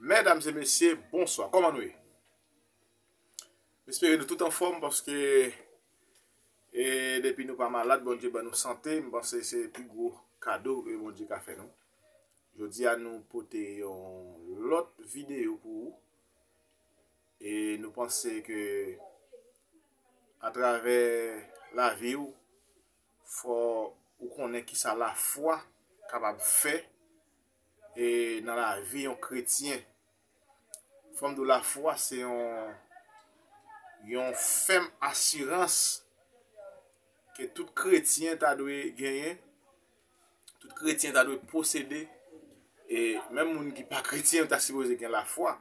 Medam se mesye, bonswa, koman nou ye? Mespere nou tout anfom, paske e depi nou pa malad, Bondye ban nou sante, mpanse se pi gwo kado e Bondye ka fè nou. Jodi a nou pote yon lot video pou ou, e nou panse ke a travè la vi ou, Fò ou konnen kisa lafwa kapab fè e nan lavi yon kretyen. Fòm di w lafwa se yon yon fèm asirans ke tout kretyen ta dwe genyen tout kretyen ta dwe posede, e menm moun ki pa kretyen ta sipoze gen lafwa,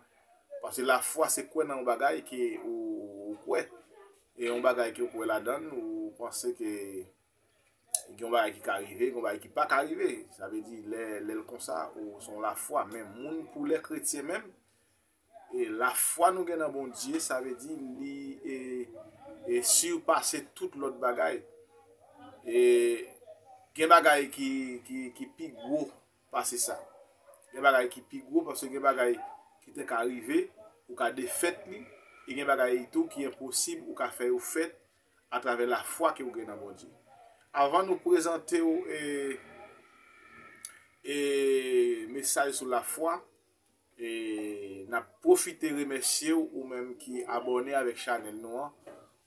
pase lafwa se kwe nan yon bagay ke ou kwe, e yon bagay ke ou kwe la dan, ou panse ke gen yon bagay ki ka rive, gen yon bagay ki pa ka rive, sa ve di lè lè l konsa, ou son lafwa, men moun koulè kretyen menm, E la fwa nou gen nan Bondye sa vle di li e sirpase tout lòt bagay. E gen bagay ki pi gwo pase sa. Gen bagay ki pi gwo pase gen bagay ki te ka rive ou ka defèt li. E gen bagay itou ki enposib ou ka fè yo fèt a travè la fwa ke ou gen nan Bondye. Avan nou prezante ou e mesaj sou la fwa. E nap pwofite remèsyew ou menm ki abòne avèk chanèl nou an,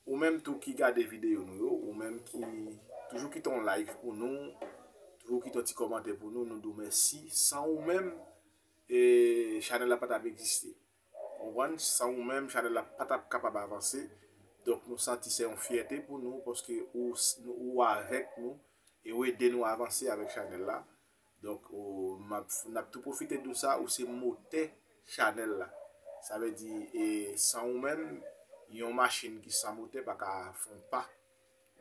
ou menm tou ki gade videyo nou yo, ou menm ki toujou kite yon like pou nou, toujou kite yon ti kòmantè pou nou, nou diw mèsi. San ou menm e chanèl la patap egziste. Konprann? San ou menm chanèl la patap kapab avanse. Donk nou santi se yon fyète pou nou paske ou avèk nou e ou ede nou avanse avèk chanèl la. Donk n ap tou pwofite di w sa, ou se motè chanèl la. Sa vle di e san ou menm, yon machin ki san motè pa ka fè yon pa.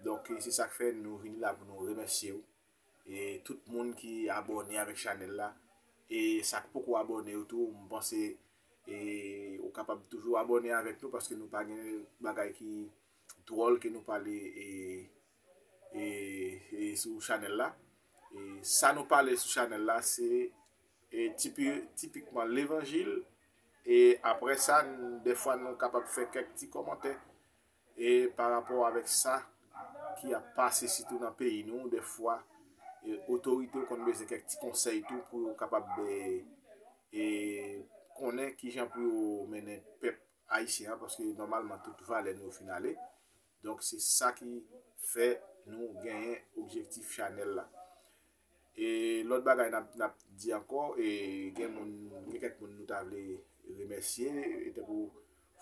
Donk se sa k fè nou vini la pou nou remèsye w. E tout moun ki abòne avèk chanèl la. E sa k poko abòne yo tou, m panse e ou kapab toujou abòne avèk nou paske nou pa gen bagay ki dwòl ke nou pale e. e sou chanèl la e sa nou pale sou chanèl la se e tipi tipikman levanjil e apre sa defwa nou kapab fè kèk ti komantè e pa rapò avèk sa ki ap pase sitou nan peyi nou defwa e otorite ou konn beze kèk ti konsèy tou pou ou kapab be e konnen ki jan pou ou mennen pèp ayisyen an paske normalman tout valè nou finale Donk se sa ki fè nou genyen objektif chanèl la. E lòt bagay n ap di ankò, e gen moun, gen kèk moun nou ta vle remèsye, e tankou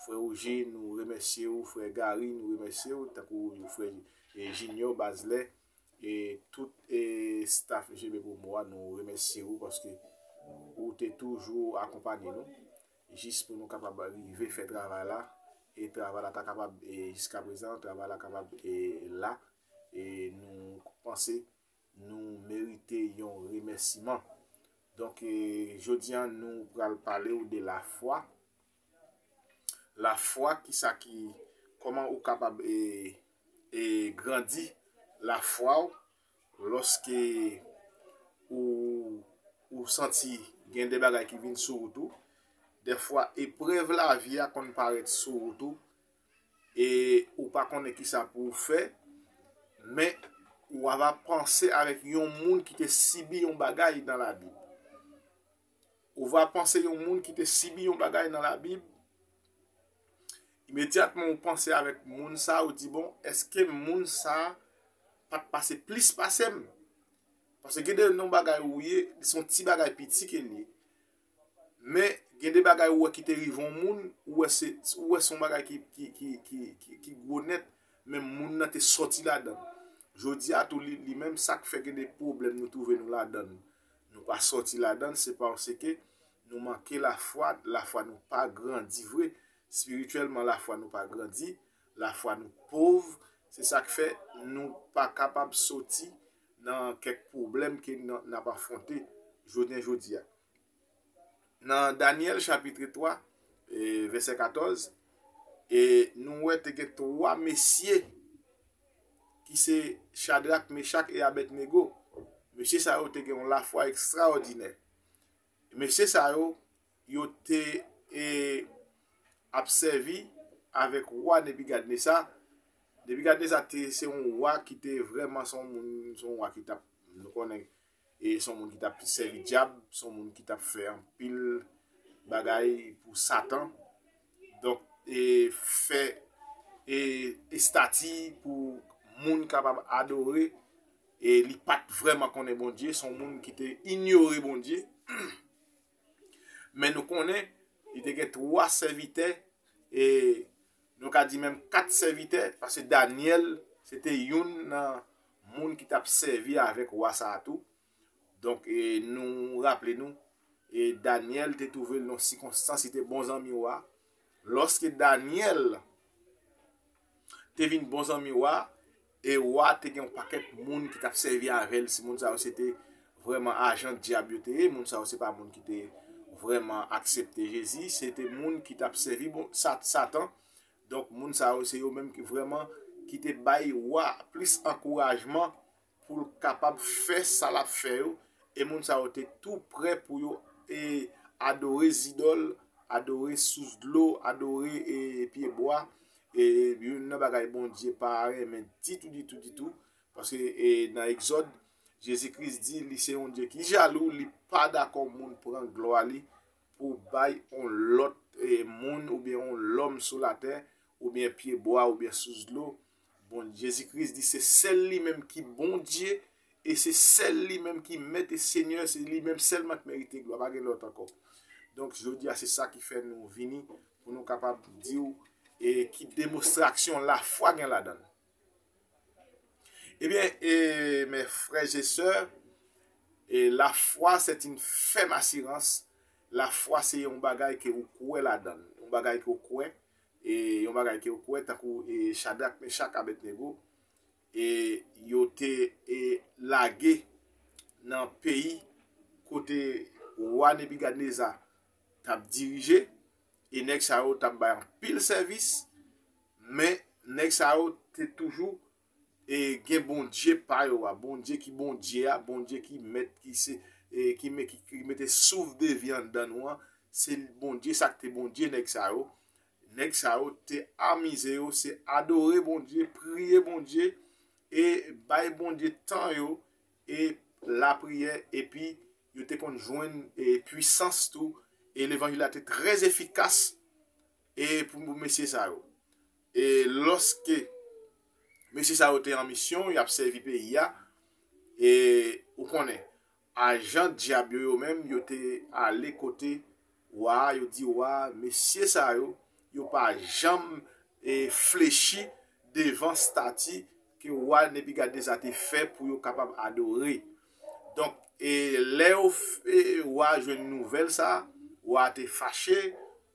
frè Wouje nou remèsye ou, frè Gari nou remèsye ou, tankou frè Jinyò, Bazlè, e tout e staff JB Promo a nou remèsye ou paske ou te toujou akonpanye nou. Jis pou nou kapab rive fè travay la, e travay la ta kapab e jiska prezan travay la kapab e la, e nou panse nou merite yon remèsiman. Donk e jodi a nou pral pale ou de la fwa. La fwa ki sa ki, kòman ou kapab e e grandi la fwa ou, Lòske ou ou santi gen de bagay ki vin sou wout ou, dèfwa eprèv lavi a konn parèt sou wout ou, e ou pa konnen ki sa pou ou fè, men ou ava panse avèk yon moun ki te sibi yon bagay dan lavi. Ou va panse yon moun ki te sibi yon bagay nan labib, imedyatman ou panse avèk moun sa ou di bon eske moun sa pat pase plis pasem. Pase gen de non bagay ou ye, li son ti bagay piti ke li. Men gen de bagay ou wè ki te rive yon moun, ou wè se ou wè son bagay ki gwo net, men moun nan te soti ladan. Jodi a tou li menm sak fè gen de pwoblèm nou twouve nou ladan. Nou pa sòti ladann se parseke nou manke lafwa, lafwa nou pa grandi vre, spirityèlman lafwa nou pa grandi, lafwa nou pov, se sak fè nou pa kapab sòti nan kèk pwoblèm ke nap afwonte jounen jodia. Nan Danyèl chapitre 3 e vèsè 14 e nou wè te gen 3 mesye ki se Chadrak, Mechak e Abednego. Mesye sa yo te gen yon lafwa ekstraòdinè. Mesye sa yo, yo te e ap sèvi avèk wa Nebigadnesa. Nebigadnesa te se yon wa ki te vrèman se yon moun, se yon wa ki tap, nou konnen e son moun ki tap sèvi dyab, son moun ki tap fè anpil bagay pou satan, donk e fè e estati pou moun kapab adore, e li pat vreman konnen Bondye, son moun ki te inyore Bondye, Men nou konnen, li te gen twa sèvitè, e nou ka di menm kat sèvitè, paske Danyèl se te youn nan moun ki t ap sèvi avèk wa sa a tou. Donk, nou raple nou, Danyèl te twouve l nan sikonstans, li te bon zanmi wa, Lòske Dànyèl te vin bon zanmi wa, e wa a te gen yon pakèt moun ki t ap sèvi avè l, si moun sa yo se te vrèman ajan Dyab yo te ye, moun sa yo se pa moun ki te vrèman aksepte Jezi, se te moun ki t ap sèvi Satan. Donk, moun sa yo se yo menm ki vrèman ki te bay wa a plis ankourajman pou l kapab fè sa l ap fè yo, e moun sa yo te tou prè pou yo e adore zidòl, adore sous dlo, adore e pye bwa, e youn nan bagay Bondye pa renmen ditou, ditou, ditou, paske e nan Egzòd, Jezi Kris di li se yon Dye ki jalou, li pa dakò moun pran glwa li pou bay yon lòt e moun oubyen yon lòm sou latè, oubyen pye bwa, oubyen sous dlo, Bon Jezi Kris di se sèl li menm ki Bondye e se sèl li menm ki mèt e senyè se li menm sèlman ki merite glwa pa gen lòt ankò. Donk jodi a se sa ki fè nou vini pou nou kapab di ou e ki demonstraksyon lafwa gen ladan l. Ebyen e mè frè je sè e lafwa se ti n fèm asirans lafwa se yon bagay ke ou kwe ladan l yon bagay ke ou kwe e yon bagay ke yo kwè tankou e Chadrak, Mechak, Abednego e yo te e lage nan peyi kote wa Nebikadneza t ap dirije e nèg sa yo t ap bay anpil sèvis men nèg sa yo te toujou e gen Bondye pa yo a, Bondye ki Bondye a, Bondye ki mèt ki se e ki me ki ki mete souf de vi anndan nou an, se Bondye sa ki te Bondye nèg sa yo, nèg sa yo te amize yo se adore Bondye, priye Bondye e bay Bondye tan yo e lapriyè epi yo te konn jwenn e pwisans tou e levanjil la te trè efikas e pou mesye sa yo. E lòske mesye sa yo te an misyon, y ap sèvi peyi a, e ou konnen, ajan dyab yo yo menm, yo te ale kote wa a, yo di wa a, mesye sa yo, yo pa janm flechi devan stati ke wa Nebikadneza te fè pou yo kapab adore. Donk, e lè yo e wa jwenn nouvèl sa a, wa te fache,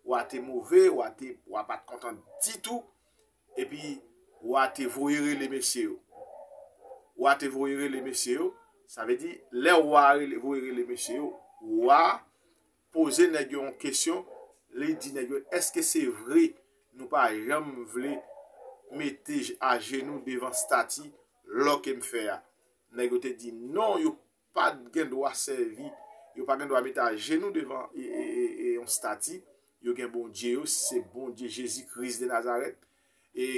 wa te move, wa te, wa pa t kontan ditou, epi wa te voye rele mesye yo. Wa te voye rele mesye yo, sa vle di, lè wa rele, voye rele mesye yo, wa poze nèg yo yon kesyon, li di nèg yo, èske se vre nou pa janm vle mete ajenou devan stati lò ke m fè a? Nèg yo te di non yo pa gen dwa sèvi, yo pa gen dwa mete ajenou devan yon stati, yo gen Bondye yo, se Bondye Jezi Kris de Nazarèt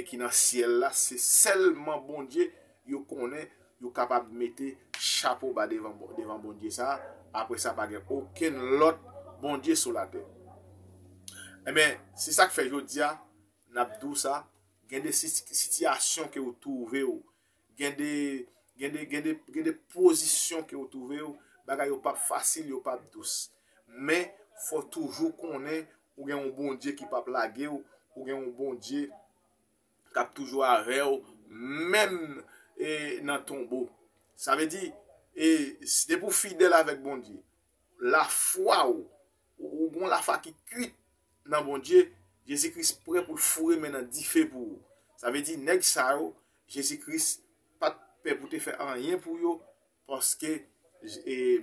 ki nan syèl la, se sèlman Bondye yo konnen yo kapab mete chapo ba devan Bondye sa, apre sa pa gen okenn lòt Bondye sou latè. Enben, se sa k fè jodi a, n ap di w sa, gen de sitiyasyon ke ou twouve w, Gen de, gen de, gen de, gen de pozisyon ke ou twouve ou, bagay yo pap fasil, yo pap dous. Men, fò ou toujou konnen ou gen yon Bondye ki pap lage ou, ou gen yon Bondye k ap toujou avè ou, menm e nan tonbo. Sa vle di, e, depi ou fidèl avèk Bondye, lafwa ou Ou gon lafa ki kwit nan Bondye, Jezi Kris prè pou l foure men nan dife pou ou. Sa vle di nèg sa yo, Jezi Kris pa t pè pou te fè anyen pou yo, paske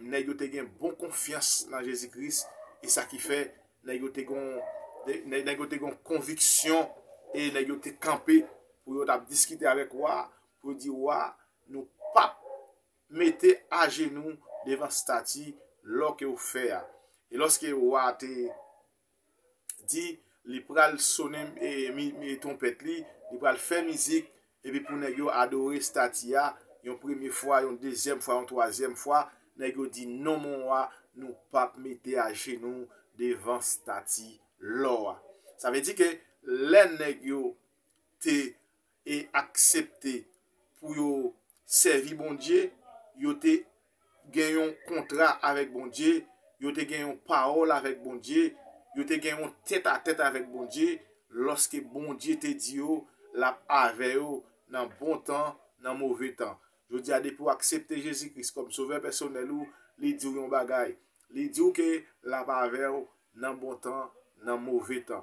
nèg yo te gen bon konfyans nan Jezi Kris, e sa ki fè nèg yo te gon konviksyon, e nèg yo te kanpe pou yo t ap diskite avèk wa, pou yo di wa, nou p ap. mete ajenou devan stati lò ke ou fè a. E lòske wa a te di, li pral sonnen twonpèt li, li pral fè mizik, epi pou nèg yo adore stati a, yon premye fwa, yon dezyèm fwa, yon twazyèm fwa, nèg yo di, non mon wa, nou pa p mete ajenou devan stati lò a. Sa vle di ke lè nèg yo te e aksepte pou yo sèvi Bondye, yo te gen yon kontra avèk Bondye, yo te gen yon pawòl avèk Bondye, yo te gen yon tèt a tèt avèk Bondye, lòske Bondye te di yo l ap avè yo nan bon tan, nan move tan. Jodi a depi w aksepte Jezi Kris kòm sovè pèsonèl ou, li di w yon bagay, li di w ke l ap avè w nan bon tan, nan move tan.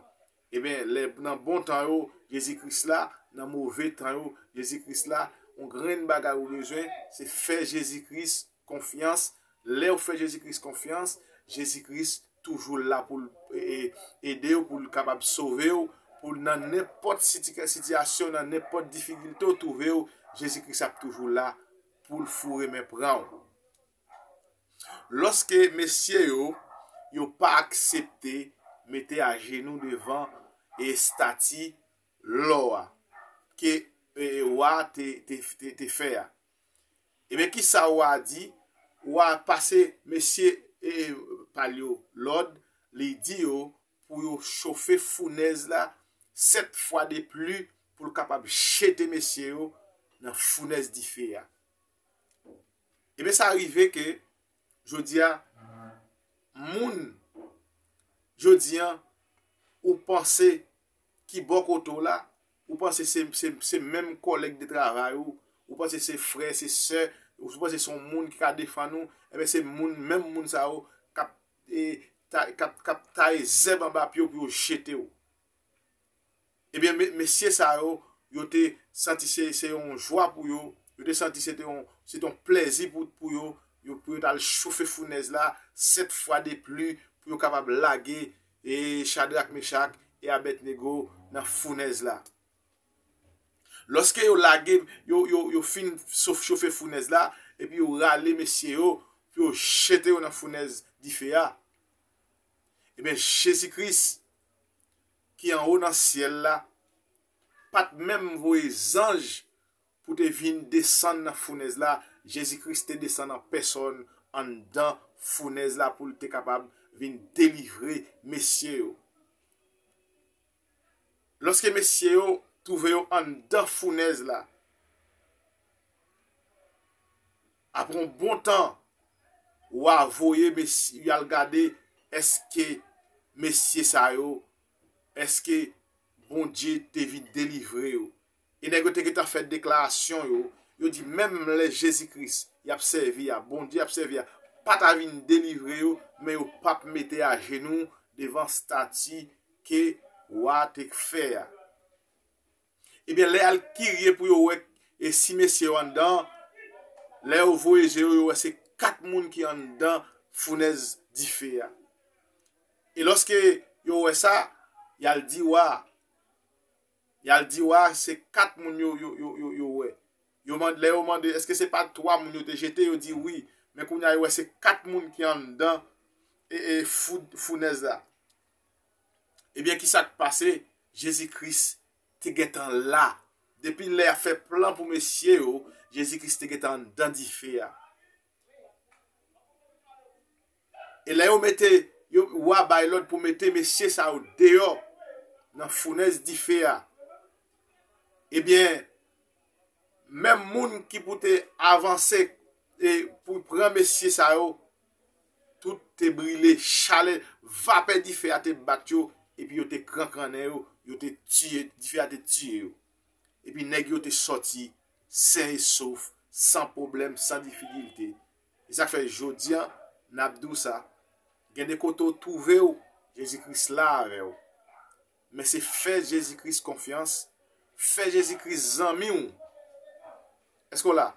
Eben, lè nan bon tan yo, Jezi Kris la, nan move tan yo, Jezi Kris la, yon grenn bagay ou bezwen, se fè Jezi Kris konfyans, lè ou fè Jezi Kris konfyans, Jezi Kris toujou la pou l ede ou, pou l kapab sove ou, pou l nan nenpòt sitiyasyon, nan nenpòt difikilte ou twouve ou, Jezi Kris ap toujou la pou l foure men pran ou. Lòske mesye yo yo pa aksepte mete ajenou devan estati lò a ke wa a te fè a, ebyen kisa wa a di? Wa a pase mesye pa l yo lòd, li di yo pou yo chofe founèz la sèt fwa de pli pou l kapab jete mesye yo nan founèz dife a. Ebyen sa rive ke jodi a moun jodi an ou panse ki bò kote w la, ou panse se menm kòlèg de travay ou, ou panse se frè, se sè, ou panse se yon moun ki ka defann ou, ebyen se moun, menm moun sa yo kap taye zèb anba pye w pou yo jete w. Ebyen mesye sa yo, yo te santi se yon jwa pou yo, yo te santi se te yon plèzi pou yo, pou yo t al chofe founèz la sèt fwa de pli pou yo kapab lage Chadrak, Mechak e Abèdnego nan founèz la. Lòske yo lage, yo fin chofe founèz la, epi yo rale mesye yo pou yo jete yo nan founèz dife a, ebyen Jezi Kris ki anwo nan syèl la pa t menm voye zanj pou te vin desann nan founèz la, Jezi Kris te desann an pèsòn anndan founèz la pou l te kapab vin delivre mesye yo. Lòske mesye yo twouve yo anndan founèz la, Apre yon bon tan, wa voye mesye yo al gade èske mesye sa yo, èske Bondye te vin delivre yo. E nèg yo te gentan fè deklarasyon yo, yo di menm lè Jezi Kris y ap sèvi a, Bondye y ap sèvi a, pa ta vin delivre yo, men yo pa p mete ajenou devan stati ke wa te fè a. Ebyen lè yal kirye pou yo wè e si mesye yo anndan an, lè yo voye je yo yo wè se 4 moun ki anndan founèz dife a. E lòske yo wè sa, yal di wa a. Yal di wa a se 4 moun yo yo wè. Yo mande, lè yo mande eske se pa 3 moun yo te jete, yo di wi. Men kounya yo wè se 4 moun ki anndan e e founèz la. Ebyen ki sa k pase? Jezi Kris te gen tan la. Depi lè y ap fè plan pou mesye yo, Jezi Kris te gen tan anndan dife a. E lè yo mete, wa bay lòd pou mete mesye sa yo deyò nan founèz dife a, ebyen menm moun ki pou te avanse e pou pran mesye sa yo, Tout te brile, chalè, vapè dife a te bat yo, epi yo te krankrannen yo, yo te tiye, dife a te tiye yo. Epi nèg yo te sòti sen e sof, san pwoblèm, san difikilte. E sa k fè jodi a, n ap di w sa, gen de kote w twouve w, Jezi Kris la avè w. Men se fè Jezi Kris konfyans, fè Jezi Kris zanmi w. Èske w la?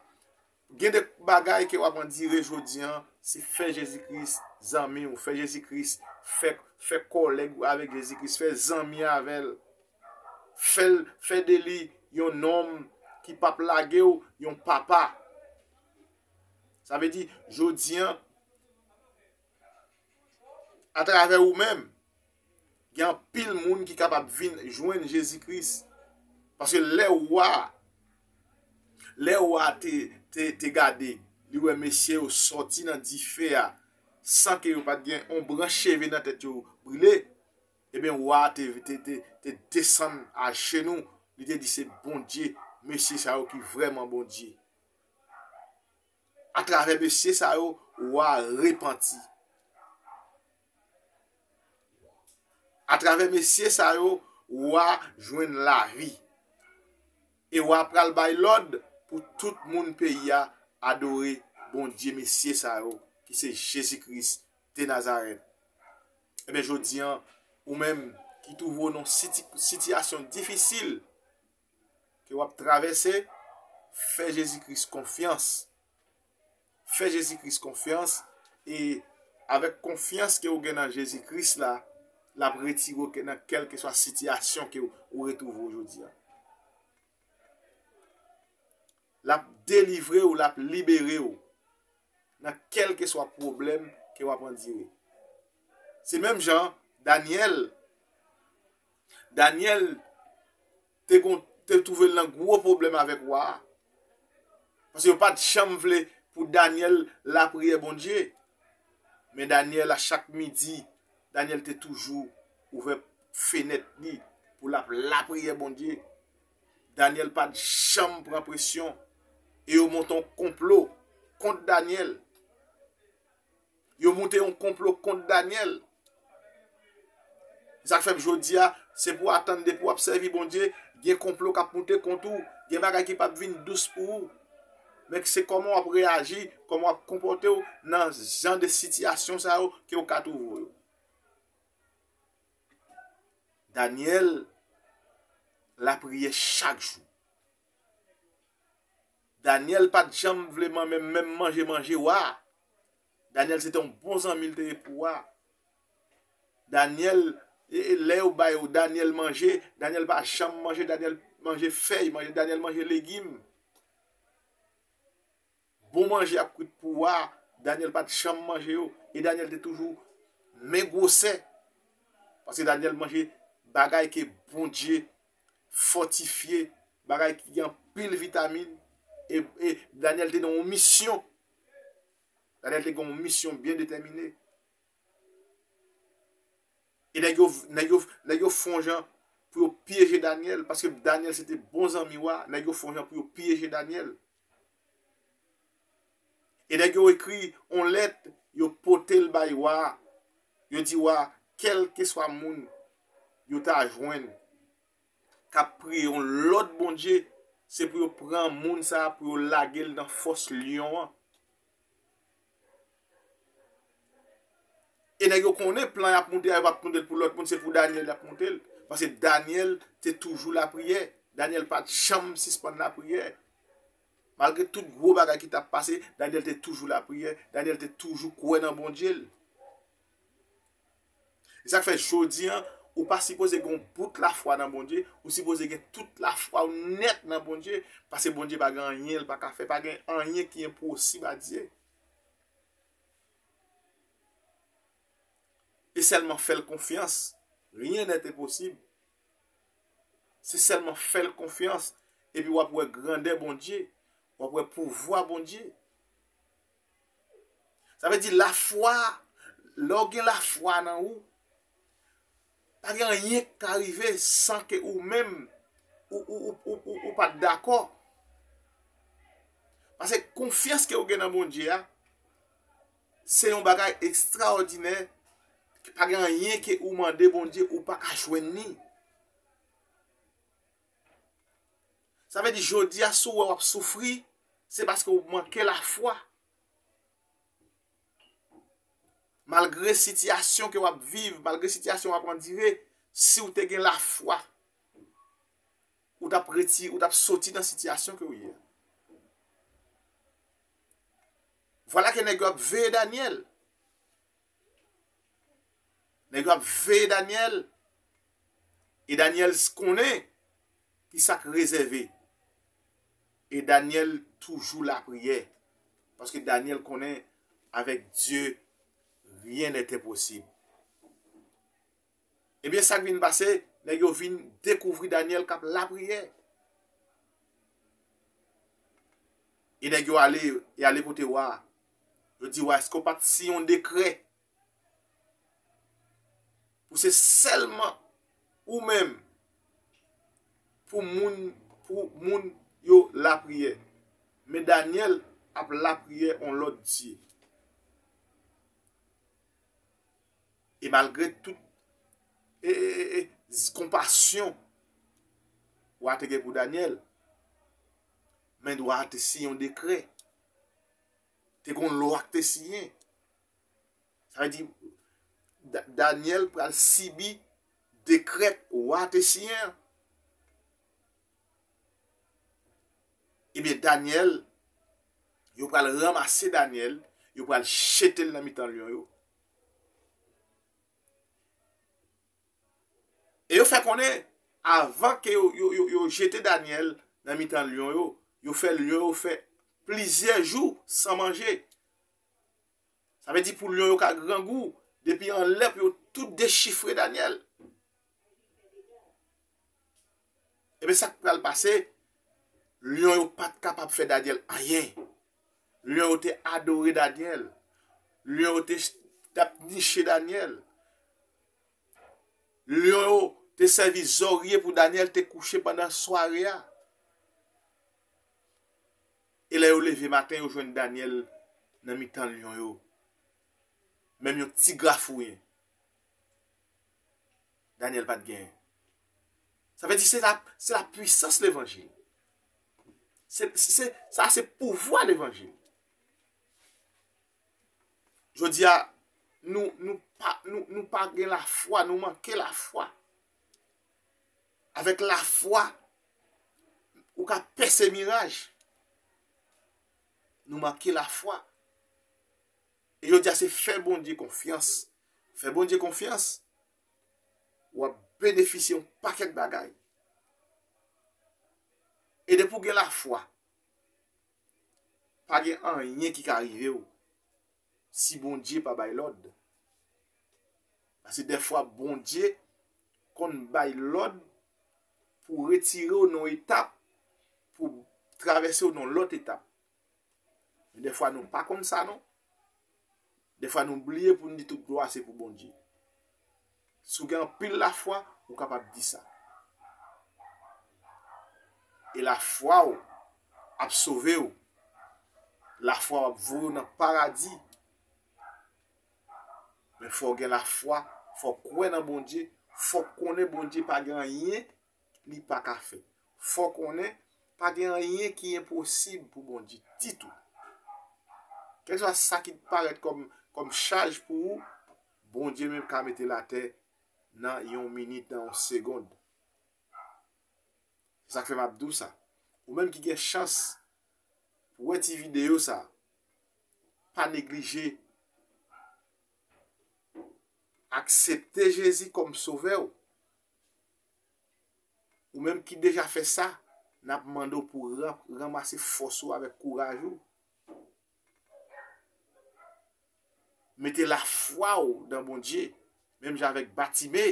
Gen de bagay ke wap andire jodi an, se fè Jezi Kris zanmi ou, fè Jezi Kris, fè, fè kòlèg ou avèk Jezi Kris, fè zanmi avè l, fè l, fè de li yon nonm ki pap lage ou, yon papa. Sa vle di, jodi an, atravè ou menm, Gen anpil moun ki kapab vin jwenn Jezi Kris. Paske lè wa, lè wa te gade, li wè mesye yo sòti nan dife a, san ke yo pat gen yon branch cheve nan tèt yo brile, eben wa te desann a jenou, li te di se Bondye, mesye sa yo ki vreman Bondye. A travè mesye sa yo, wa repanti. A travè mesye sa yo, ou a jwenn lavi. E ou a pral bay lòd pou tout moun peyi a adore Bondye mesye sa yo ki se Jezi Kris de Nazarèt. Enben jodi an, ou menm ki twouve w nan sitiyasyon difisil, ke wap travèse, fè Jezi Kris konfyans, fè Jezi Kris konfyans, e avèk konfyans ke ou gen nan Jezi Kris la, lap retire ou ke nan kèlkeswa sitiyasyon ke ou retwouve ou jodi a. Lap delivre ou, lap libere ou, nan kèlkeswa pwoblèm ke wap andire. Se menm jan Daniel, Danyèl te kon te twouve l nan gwo pwoblèm avèk wa a. Paske yo pa t janm vle pou Danyèl lapriyè Bondye. Men Danyèl a chak midi, Danyèl te toujou ouvè fenèt li pou l ap lapriyè Bondye. Danyèl pa t janm pran presyon. E yo monte yon konplo kont Danyèl. Yo moute yon konplo kont Daniel. Sak fem jodia se pou atann depi wap sevi Bondye gen konplo kap moute kont ou, gen bagay ki pap vin dous pou ou. Men se koman wap reyaji, koman wap konpote ou nan jan de sitiyasyon sa yo ke ou ka trouve ou yo. Daniel lapriye chak jou. Daniel pat janm vle manmen menm manje manje wa. Daniel se te yon bon zanmi li te ye pou wa. Daniel lè yo bay ou Daniel manje, Daniel pa janm manje, Daniel manje fèy, Daniel manje legim. Bon manje ap kwit pou wa, Daniel pat janm manje yo. E Daniel te toujou men gwosè. Pase Daniel manje bagay ke Bondye. fòtifye, bagay ki gen anpil vitamin, e, e, Danyèl te nan yon misyon, Danyèl te gen yon misyon byen detèmine, e nèg yo, nèg yo, nèg yo fon jan pou yo pyeje Danyèl, paske Danyèl se te bon zanmi wa, nèg yo fon jan pou yo pyeje Danyèl, E nèg yo ekri yon lèt, yo pote l bay wa a, yo di wa a, kèlkeswa moun yo ta jwenn k ap priye yon lòt bondye, se pou yo pran moun sa a, pou yo lage l nan fòs lyon an. E nèg yo konnen plan yap moute a yo pap moute l pou lòt moun se pou Daniel yap moute l paske Daniel te toujou lapriyè Daniel pat janm sispann lapriyè malgre tout gwo bagay ki tap pase Daniel te toujou lapriyè Daniel te toujou kwè nan Bondye l E sa k fè jodi an, ou pa sipoze gen yon bout lafwa nan Bondye, ou sipoze gen tout lafwa ou nèt nan Bondye, paske Bondye pa gen anyen l pa ka fè, pa gen anyen ki enposib a Dye. E sèlman fè l konfyans, ryen nèt enposib. Se sèlman fè l konfyans, epi w ap wè grandè Bondye, w ap wè pouvwa Bondye. Sa vle di la fwa, lè ou gen la fwa nan ou, pa gen anyen ki ka rive san ke ou menm ou pat dakò. Pase konfyans ke ou gen nan Bondye a, se yon bagay ekstraòdinè, ki pa gen anyen ke ou mande Bondye ou pa ka jwenn ni. Sa vle di jodi a si w wè w ap soufri, se paske w manke lafwa. Malgre sitiyasyon ke w ap viv, malgre sitiyasyon w ap andire, si w te gen lafwa, ou t ap reti, ou t ap soti nan sitiyasyon ke w ye. Vwala ke nèg yo ap veye Danyèl. Nèg yo ap veye Daniel e Daniel konnen ki sa k rezève e Daniel toujou lapriyè paske Daniel konnen avèk Dye ryen nèt enposib. Ebyen sak vin pase, nèg yo vin dekouvri Daniel kap lapriyè. E nèg yo ale, y ale kote wa a. Yo di wa a, eske w pat siyen yon dekrè pou se sèlman ou menm pou moun pou moun yo lapriyè. Men Daniel ap lapriyè yon lòt dye. E malgre tout konpasyon wa te gen pou Danyèl, men wa te siyen yon dekrè. Te kon lwa ki te siyen. Sa vle di, Danyèl pral sibi dekrè wa te siyen an. Ebyen, eh Daniel, yo pral ramase Daniel, yo pral chetel nan mitan lyon yo, E yo fè konnen, avan ke yo jete Danyèl nan mitan lyon yo, yo fè lyon yo fè plizyè jou san manje. Sa vle di pou lyon yo ka grangou, depi anlè pou yo tout dechifre Danyèl. Ebe sak pral pase, lyon yo pat kapab fè Daniel anyen. Lyon yo te adore Daniel. Lyon yo te tap niche Daniel. Lyon yo te sèvi zorye pou Daniel te kouche pandan sware a. E lè yo leve maten yo jwenn Daniel nan mitan lyon yo. Menm yon ti grafouyen. Daniel pat gen. Sa vle di se la, se la pwisans levanjil. Se, se, sa se pouvwa levanjil. Jodi a, nou, nou pa, nou, nou pa gen la fwa, nou manke la fwa. Avèk la fwa, ou ka pèse miraj. Nou manke la fwa. E yo dia se fè Bondye konfyans. Fè Bondye konfyans wap benefisye yon pakèt bagay. E depi ou gen lafwa, pa gen anyen ki ka rive ou si Bondye pa bay lòd. Pase dèfwa Bondye konn bay lòd pou retire ou nan yon etap pou travèse ou nan lòt etap. Men defwa nou pa konn sa non. Defwa nou bliye pou nou di tout glwa se pou Bondye. Si w gen anpil lafwa, ou kapab di sa. E lafwa w ap sove w. Lafwa w ap voye w nan paradi. Men fò w gen lafwa, fò w kwè nan Bondye, fò w konnen Bondye pa gen anyen li pa ka fè. Fò konnen, pa gen anyen ki enposib pou Bondye ditou. Kèlkeswa sa ki t parèt kòm kòm chaj pou ou, Bondye menm ka mete l atè nan yon minit, nan yon segond. Se sak fè map di w sa. Ou menm ki gen chans pou wè ti videyo sa, pa neglije aksepte Jezi kòm sovè w. Ou menm ki deja fè sa, n ap mande w pou ranmase fòs ou avèk kouraj ou. Mete lafwa w nan Bondye, menm jan avèk Batime.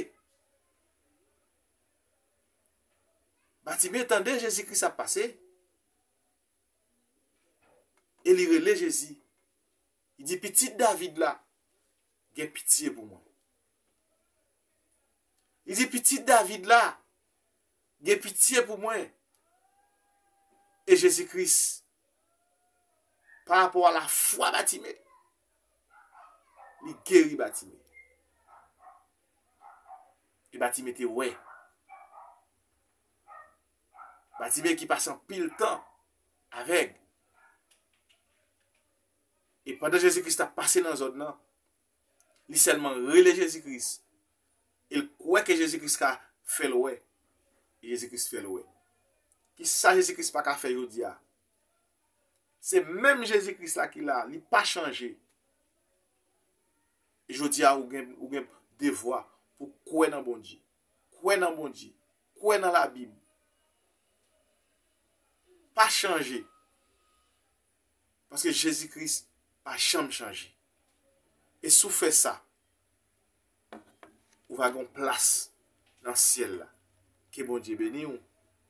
Batime tande Jezi Kris ap pase, e li rele Jezi, li di, Pitit David la, gen pitye pou mwen. Li di, Pitit David la, gen pitye pou mwen. E Jezi Kris, pa rapò a lafwa Batime, li geri Batime. E Batime te wè. Batime ki pase anpil tan avèg. E pandan Jezi Kris ta pase nan zòn nan, Li sèlman rele Jezi Kris e l kwè ke Jezi Kris ka fè l wè. E Jezi Kris fè l wè. Kisa Jezi Kris pa ka fè jodi a? Se menm Jezi Kris la ki la, li pa chanje. E jodi a ou gen devwa pou kwè nan Bondye. Kwè nan Bondye. Kwè nan Labib. Pa chanje. Paske Jezi Kris pa janm chanje. E si w fè sa, ou va gen yon plas nan syèl la. Ke Bondye beni w,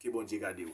ke Bondye gade w.